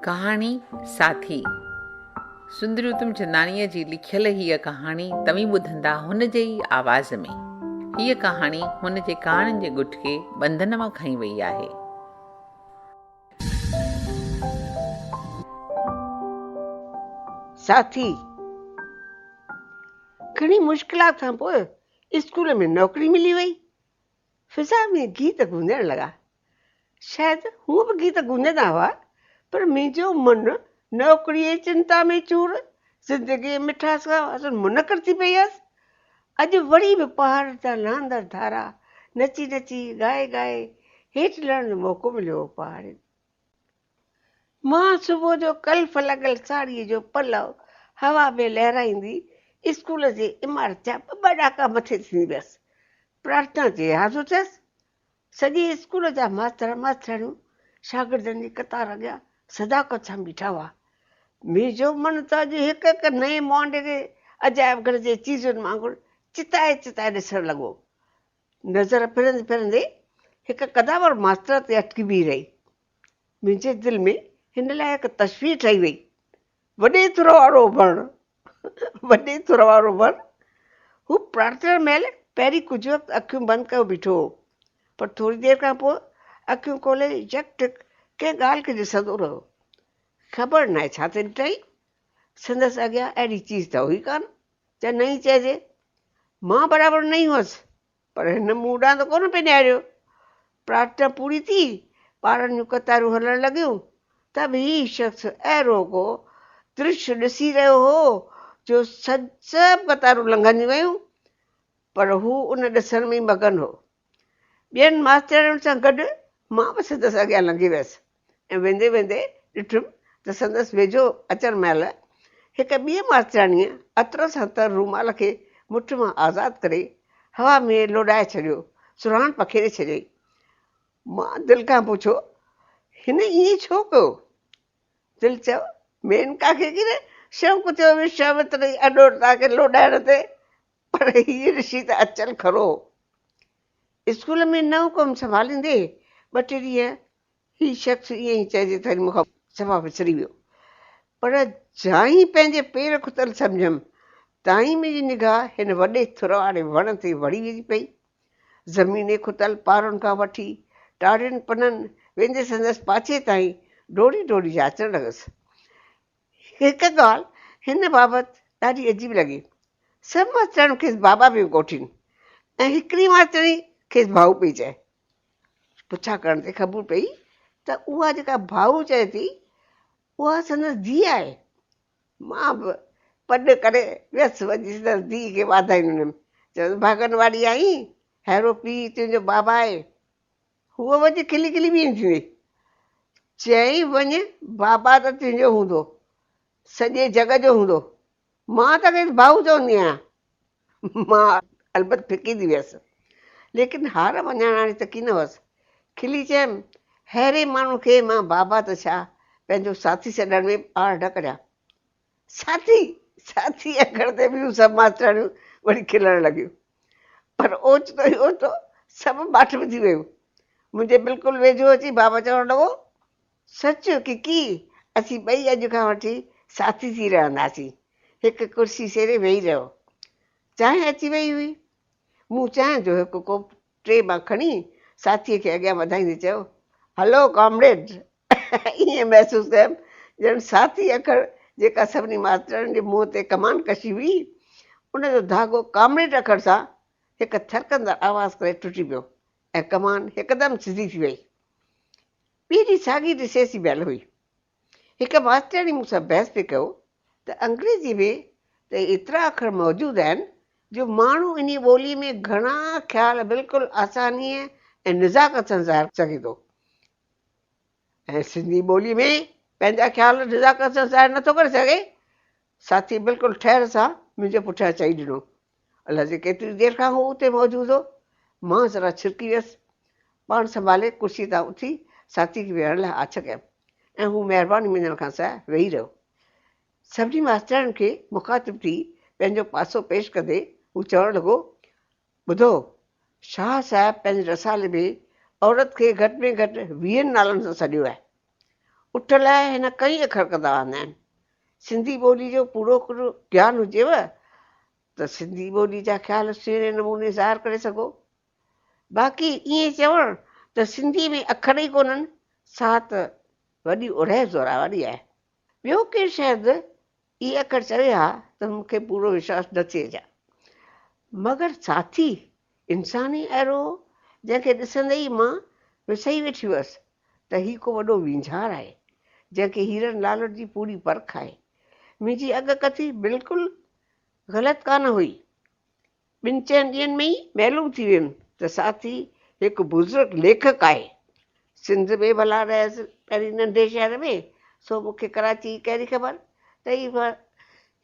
ڪهاڻي ساٿي سندري اتمچنداڻيء جي لکيل هيء ڪهاڻي توهين ٻڌندا هن جي ئي آواز ۾ هيء ڪهاڻي هن جي ڪهاڻين جي ڳٺ کي ٻنڌن مان کڻي وئي آهي ساٿي گهڻي مشڪلات کان پوء اسڪول ۾ نوڪري ملي وئي فضا ۾ گيت گونجڻ لڳا. شايد هونء به گيت گونجندا هئا، پر منهنجو من نوڪريء جي چنتا ۾ چور، زندگيء جي مٺاس کان اصل منڪر ٿي پئي هيس. اڄ وري به پهاڙن تان لهندڙ ڌارا نچي نچي، ڳائي ڳائي هيٺ لهڻ جو موقعو مليو هو. پهاڙين مان صبح جو ڪلف لڳل ساڙهيء جو پلو هوا ۾ لهرائيندي اسڪول جي عمارت جا ٻه ٻه ڏاڪا مٿي ٿيندي ويس. پرارٿنا تي حاضر ٿيس. سڄي اسڪول جا ماستر ماسترياڻيون شاگردن جي قطار اڳيان صداقت سان بيٺا هئا. مير جو من ته اڄ هڪ هڪ نئين مهانڊي تي عجائب گهر جي چيزن وانگر چتائي چتائي ڏسڻ لڳو. نظر ڦرندي ڦرندي هڪ قداور ماستر تي اٽڪي بيهي رهي. منهنجي دل ۾ هن لاء هڪ تشبيهه ٺهي وئي. وڏي ٿر وارو وڻ، وڏي ٿر وارو وڻ، هو پرارٿنا مهل پهرين ڪجهه وقت اکيون بند ڪيو بيٺو هو، پر ٿوري دير کان پوء اکيون کولي يڪ ٽڪ ڪنهن ڳالهه کي ڏسندو رهيو. خبر ناهي ڇا تي ڏٺائين، سندس اڳيان اهڙي چيز ته هئي ڪانه، جا نئين چئجي. مان برابر نئين هئس، پر هن مون ڏانهن ته ڪونه پئي نهاريو. پرارٿنا پوري ٿي، ٻارن جون قطارون هلڻ لڳيون ته به هي شخص اهڙو ڪو درش ڏسي رهيو هو جو سڀ قطارون لنگهنديون ويون پر هو ان ڏسڻ ۾ ئي مگن هو. ٻين ماستياڻين سان گڏ مان به سندس اڳيان لنگهي ويس. ۽ ويندي ويندي ڏٺم ته سندس ويجهو اچڻ مهل هڪ ٻيء ماسترياڻيء عطر سان تر رومال کي مٺ مان آزاد ڪري هوا ۾ لوڏائي ڇڏيو، سرهاڻ پکيڙي ڇڏيائين. مان دل کان پڇيو، هن ائين ڇو ڪيو؟ دل چيو، مينڪا کي ڪيڏي شوق ٿيو وشوامتري اڏورتا کي لوڏائڻ تي، پر هيء رشي ته اچل کرو هو. اسڪول ۾ نئون ڪم سنڀاليندي ٻه ٽي ڏينهن هي شخص ائين ئي چئجي ٿري مون کان صفا وسري ويو، پر جائين پنهنجي پير کتل سمجهيم، تائين منهنجي نگاهه هن وڏي ٿر واري وڻ تي وڙهي ويندي پئي. زميني کتل پارن کان وٺي ٽارين پنن ويندي سندس پاڇي تائين ڊوڙي ڊوڙي جاچڻ لڳس. هڪ ڳالهه هن بابت ڏاڍي عجيب لڳي. سڀ ماسترياڻيون کيس بابا پيون ڪوٺين ۽ هڪڙي ماسترياڻي کيس ڀائو پئي چئي. پڇا ڪرڻ تي خبر پئي ته اها جيڪا ڀائو چئي ٿي اها سندس ڌيء آهي. مان به پڏ ڪري ويس وڃي سندس ڌيء کي واڌايون ڏنم چيس ڀاڳن واري آهين ههڙو پيء تنهنجو بابا آهي. هوء وڃي کلي کلي بيهي ٿيندي چيائين وڃ بابا ته تنهنجو هوندو سڄي جڳ جو هوندو مان ته کيس ڀائو چوندي آهيان. مان البت ڦڪي ٿي ويس. ليڪن هار مڃاڻاڻي ته ڪين هئس. کلي چيم، ههڙي ماڻهو کي مان بابا ته ڇا، پنهنجو ساٿي سڏڻ ۾ آڙ نه ڪريان. ساٿي! ساٿي! اکڙ تي ٻيون سڀ ماسترياڻيون وڙي کلڻ لڳيون. پر اوچتو ئي اوچتو سڀ ماٺ ۾ ٿي ويون. منهنجي بلڪل ويجهو اچي بابا چوڻ لڳو. سچ ڪڪي، اسين ٻئي اڄ کان وٺي ساٿي ٿي رهنداسين. هڪ ڪرسي سيري ويهي رهيو. چانهه اچي ويئي هئي. مون چانهه جو هڪ ڪوپ ٽري مان کڻي ساٿيء کي اڳيان وڌائيندي چيو، هلو ڪامريڊ! ائين محسوس ڪيم ڄڻ ساٿي اکر جيڪا سڀني ماسترياڻين جي منهن تي ڪمان ڪشي هئي، ان جو ڌاڳو ڪامريڊ اکر سان هڪ ٿرڪندڙ آواز ڪري ٽٽي پيو ۽ ڪمان هڪدم سڌي ٿي ويئي. پيء جي ساڳي رشتي جي ڀيل هئي. هڪ ماسترياڻي مون سان بحث پئي ڪيو ته انگريزيء ۾ ته ايترا اکر موجود آهن جو ماڻهو انهيء ٻوليء ۾ گهڻا خيال بلڪل آسانيء ۽ نزاڪت سان ظاهر سگهي ٿو ۽ سنڌي ٻوليء ۾ پنهنجا خيال نزاڪت سان ظاهر نٿو ڪري سگهي. ساٿيء بلڪل ٺهر سان منهنجي پٺيان چئي ڏنو الهجي ڪيتري دير کان هو اتي موجود هو. مان ذرا ڇرڪي ويس. پاڻ سنڀالي ڪرسي تان اٿي ساٿي کي ويهڻ لاء آڇ ڪيم ۽ هو مهرباني مڃڻ کان سواء ويهي رهيو. سڀني ماسترياڻين کي مخاطب ٿي پنهنجو پاسو پيش ڪندي هو چوڻ لڳو، ٻڌو، شاهه صاحب پنهنجي رسالي ۾ عورت کي گهٽ ۾ گهٽ ويهن نالن سان سڏيو آهي. اٺ لاء هن ڪئين اکر ڪندا آندا آهن. سنڌي ٻولي جو پورو پورو گيان هجيو ته سنڌي ٻولي جا خيال سهڻي نموني ظاهر ڪري سگهو. باقي ائين چوڻ ته سنڌي ۾ اکر ئي ڪونهن سا ته وڏي اڙهي زورا واري آهي. ٻيو ڪير شايد اهي اکر چوي ها ته مون کي پورو وشواس نه ٿئي ها. مگر ساٿي انسان ئي اهڙو هو، جنهن کي ڏسندي ئي مان وسهي ويٺي هئس ته هي ڪو وڏو وينجهار آهي، جنهن کي هيرن لالن جي پوري پرک آهي. منهنجي اڳڪٿي بلڪل غلط ڪانه هئي. ٻن چئن ڏينهن ۾ ئي معلوم ٿي ويم ته ساٿي هڪ بزرگ ليکڪ آهي. سنڌ ۾ ڀلا رهيس پهرين ننڍي شهر ۾ سو مون کي ڪراچي جي ڪهڙي خبر ته هي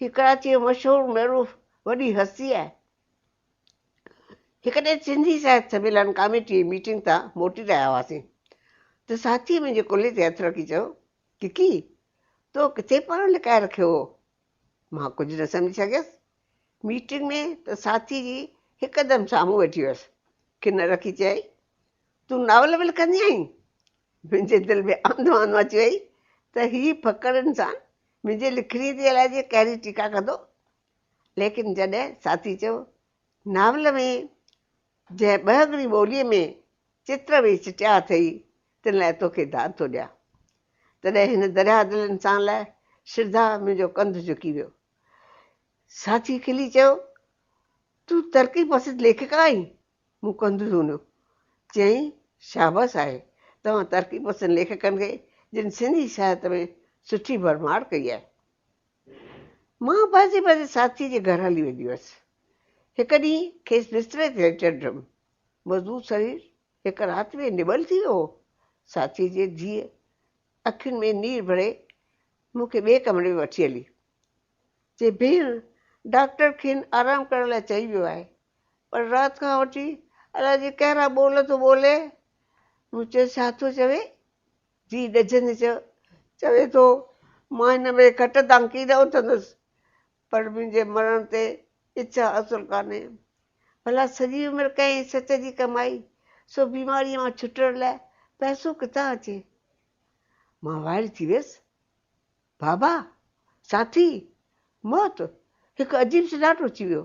هي ڪراچي جو مشهور معروف وڏي هستي آهي. هڪ ڏينهن سنڌي ساهت سميلن ڪاميٽي جي ميٽنگ تان موٽي رهيا هئاسين ته ساٿي منهنجي ڪلهي تي هٿ رکي چيو ڪڪي تو ڪٿي پاڻ لڪائي رکيو هو مان ڪجهه نه سمجهي سگهيس ميٽنگ ۾ ته ساٿي جي هڪدم سامهون ويٺي هئس، کن رکي چيائين، تون ناول به لکندي آهين؟ منهنجي دل ۾ آندو آندو اچي وئي ته هي ڦڪڙ انسان منهنجي لکڻي تي الائي جي ڪهڙي ٽيڪا ڪندو. ليڪن جڏهن ساٿي چيو، ناول ۾ جنهن ٻهڳڙي ٻوليء ۾ چتر ويهي چٽيا اٿئي، تن لاء توکي داد ٿو ڏيان. تڏهن هن درياهه دل انسان لاء شرڌا منهنجو ڪنڌ جهڪي ويو. ساچي کلي چيو، تون ترقي پسند ليکڪه آهين؟ مون ڪنڌ ڌونيو. چيائين، شابس آهي توهان ترقي پسند ليکڪن کي جن سنڌي ساهت ۾ سٺي ڀرمار ڪئي آهي. مان پنهنجي پنهنجي ساٿي جي گهر هلي ويندي هئس. هڪ ڏينهن کيس بستري تي ليٽل ڊرم. مضبوط سرير هڪ رات ۾ نٻل ٿي ويو هو. ساٿي جي ڌيء اکين ۾ نير ڀري مون کي ٻئي ڪمري ۾ وٺي هلي چي ڀيڻ ڊاڪٽر کين آرام ڪرڻ لاء چئي ويو آهي پر رات کان وٺي الاء جي ڪهڙا ٻول ٿو ٻولي مون چيس ڇا ٿو چوي جي ڏجندي چيو چوي ٿو مان هن ڀيري کٽ تان ڪيڏا اٿندس پر منهنجي مرڻ تي اچا اصل ڪانهي. ڀلا سڄي عمر ڪئين سچ جي ڪمائي، سو بيماريء مان ڇٽڻ لاء پئسو ڪٿان اچي؟ مان وائڙي ٿي ويس. بابا! ساٿي! موت هڪ عجيب سناٽو اچي ويو.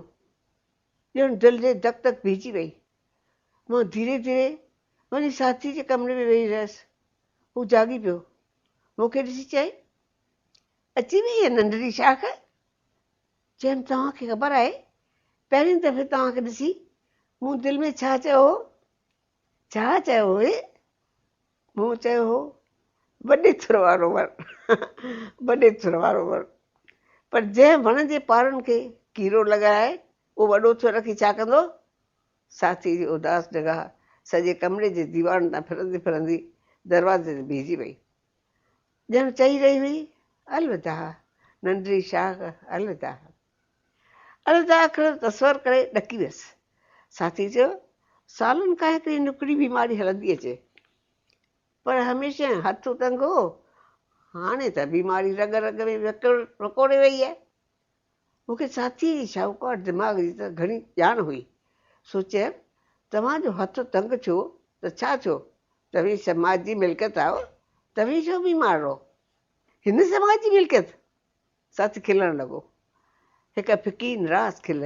ڄڻ دل جي دڪ دڪ بيهجي وئي. مان ڌيري ڌيري وڃي ساٿي جي ڪمري ۾ ويهي رهيس. هو جاڳي پيو. مون کي ڏسي چيائين. اچي وئي اها ننڍڙي شاخ؟ چيم توهان کي خبر آهي پهرين دفعي توهان کي ڏسي مون دل ۾ ڇا چيو هو؟ ڇا چيو هئي؟ مون چيو هو وڏي ٿر وارو وڻ وڏي ٿر وارو وڻ پر جنهن وڻ جي پارن کي ڪيرو لڳائي اهو وڏو ٿر رکي ڇا ڪندو؟ ساٿي جي اداس نگاهه سڄي ڪمري جي ديوارن تان ڦرندي ڦرندي دروازي تي بيهجي وئي. ڄڻ چئي رهي هئي الوداع ننڍڙي شاخ الوداع الوداع اکر تصور ڪري ڏڪي ويس ساٿي چيو سالن کان هڪڙي نڪڙي بيماري هلندي اچي پر هميشه هٿ ٽنگو هاڻي ته بيماري رڳ رڳ ۾ وڪوڙي وئي آهي مون کي ڇاتيء جي شاهوڪار دماغ جي ته گهڻي ڄاڻ هئي، سو چيم، توهان جو هٿ تنگ ٿيو ته ڇا ٿيو؟ توهين سماج جي ملڪيت آهيو، توهين ڇو بيمار رهو؟ هن سماج جي ملڪيت؟ ساٿي کلڻ لڳو. هڪ ڦڪي نراس کل،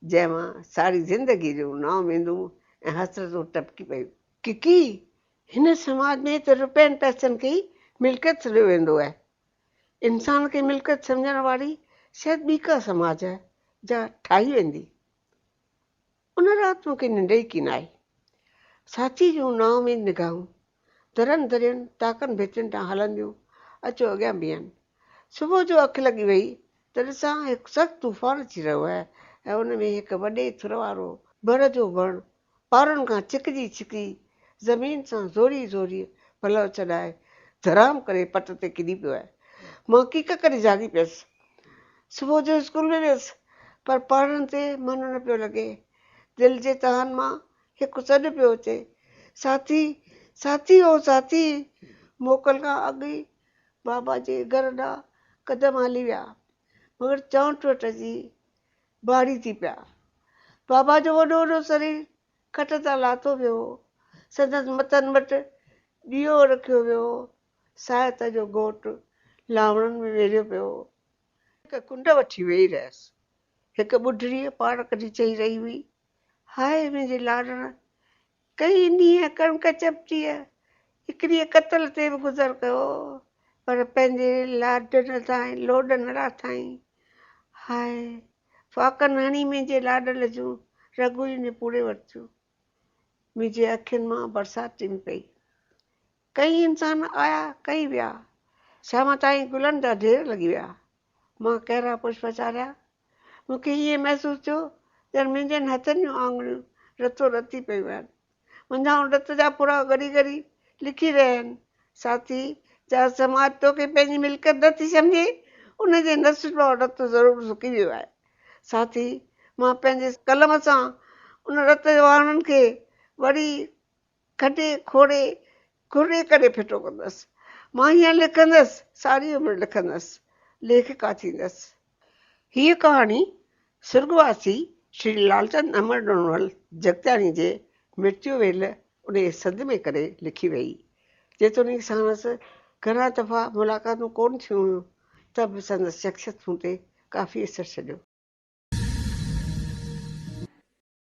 جنهن مان ساري زندگيء جون نااميدون ۽ حسرتون ٽپڪي پيون. ڪڪي، هن سماج ۾ ته روپين پئسن کي ئي ملڪيت سڏيو ويندو آهي، انسان کي ملڪيت سمجهڻ واري شايد ٻي ڪا سماج جا ٺاهي ويندي. ان رات مون کي ننڊ ئي ڪين آئي. ساچي جون نا اميد نگاهون درن درين تاڪن ڀيتين ڏانهن هلنديون اچيو اڳيان بيهن. صبح جو اک لڳي ويئي ته ڏسان هڪ سخت طوفان اچي رهيو آهي ۽ ان ۾ هڪ وڏي ٿر وارو بر جو وڻ پارن کان ڇڪجي ڇڪجي زمين سان زوري زوريء پلئو ڇڏائي ڌرام ڪري پٽ تي ڪڏي پيو آهي. مان ڪيڪ ڪري جاڳي پيس. صبح جو اسڪول ۾ ويس پر پڙهڻ تي من نه پيو لڳي. دل جي تهن مان هڪ سڏ پيو اچي، ساٿي، ساٿي او ساٿي! موڪل کان اڳ ئي بابا جي گهر ڏانهن قدم هلي ويا، مگر چانئٺ وٽ اچي ڀاڙي ٿي پيا. بابا جو وڏو وڏو سرير کٽ تان لاٿو ويو هو. سندس مٿن وٽ ڏيئو رکيو ويو هو. ساهت جو گهوٽ لاوڻن ۾ ويڙهيو پيو هو. هڪ ڪنڊ وٺي ويهي رهيس. هڪ ٻڍڙيء پاڙ ڪڍي چئي رهي هئي، هاء منهنجي لاڙڻ، ڪئي ڏينهن ڪڻڪ چپٽيء هڪڙيء قتل تي به گذر ڪيو، پر پنهنجي لاڏن ۽ لوڏن لاٿائين. هاء، ڦاڪن هڻي منهنجي لاڏل جون رڳون ئي نپوڙي ورتيون. منهنجي اکين مان برسات ٽنگ پئي. ڪيئي انسان آيا ڪيئي ويا. سياهه تائين گلن جا ڍير لڳي ويا. مان ڪهرا پشپ چاريا. مون کي ائين محسوس ٿيو ڄڻ منهنجن هٿن جون آڱريون رتو رتي پيون آهن. منجهائن رت جا ڦڙا ڳري ڳري لڪي رهيا آهن. ساٿي! جا سماج توکي پنهنجي ملڪيت نه ٿي سمجهي، ان جي نس جو رت ضرور سڪي ويو آهي. ساٿي! مان پنهنجي قلم سان ان رت جي وهاڻن کي وري کڏي کوڙي کرڙي ڪري ڦٽو ڪندس. مان هيئن لکندس، ساري عمر لکندس، ليکڪا ٿيندس. هيء ڪهاڻي سرڳواسي شري لالچند امر ڏنول جڳتياڻي جي مرتيو ويل انهيء سنڌ ۾ ڪري لکي ويئي. جيتوڻيڪ ساڻس گهڻا دفعا ملاقاتون ڪونه ٿيون هيون، ته به سندس شخصيت مون تي ڪافي اثر ڇڏيو.